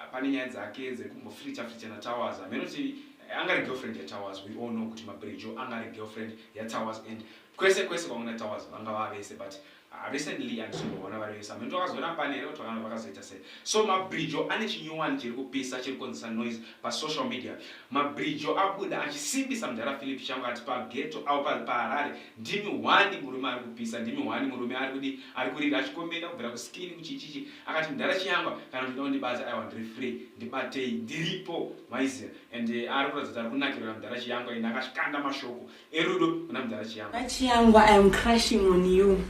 Ah, pane nyaya dzake dzekumbofricha fricha natowers hameno kuti eh, angari girlfriend yatowers we all know kuti mabrejo angari girlfriend yatowers and kwese kwese kwamwe natowers vanga vavese but uh, recently andizombovona vari vese hameno twakazoona pane here twakana vakazoita sei so mabrejo ane chinyowani chiri kupisa chiri kukonzesa noise pasocial media mabrejo abuda achisimbisa mudhara philip changu ati pageto avo pari paharare ndimi hwani murume ari kupisa ndimi hwani murume ari kudi ari kurira achikombenda kubvira kuskini kuchichichi akati mdhara chiyangwa kana uchida kundibadza aiwa ndiri free ndibatei ndiripo maiziva and eh, ari kuratidza kuti ari kunakirira mdhara chiyangwa ini akashanda mashoko erudo kuna mdhara chiyangwa chiyangwa i am crushing on you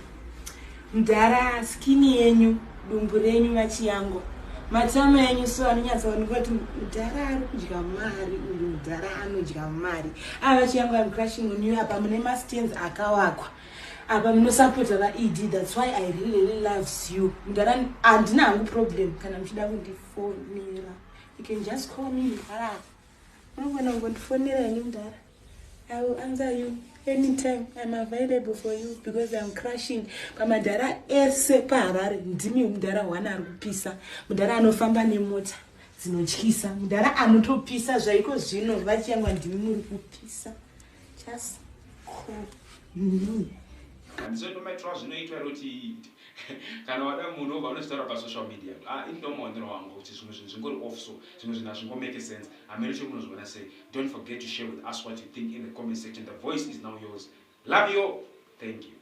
mdhara skini yenyu dumbu renyu vachiyangwa matama enyu so anonyatsaoneka kuti mudhara ari kudya mari uyu mudhara anodya mari ava ah, chiyangwa am crushing on you apa mune mastans akawakwa apa munosapota vaed thats why i really loves you mudhara handina hangu problem kana muchida kundifonera you can just call me mudhara unogona kungondifonera ini mudhara i will answer you anytime iam available for you because iam crushing pamadhara ese paharare ndimi mudhara one ari kupisa mudhara anofamba nemota dzinotyisa mudhara anotopisa zvaiko zvino vachiyangwa ndimi muri kupisa just call me handizo ndomaitirwa zvinoitwa iro kuti kana wada munhu obva unozvitaura pasocial media ah, ini ndomaonero wangu kuti zvimwe zvinhu zvingori off so zvimwe zvinhu hazvingomake sense hameno chiri munozviona sei don't forget to share with us what you think in the comment section the voice is now yours love you all thank you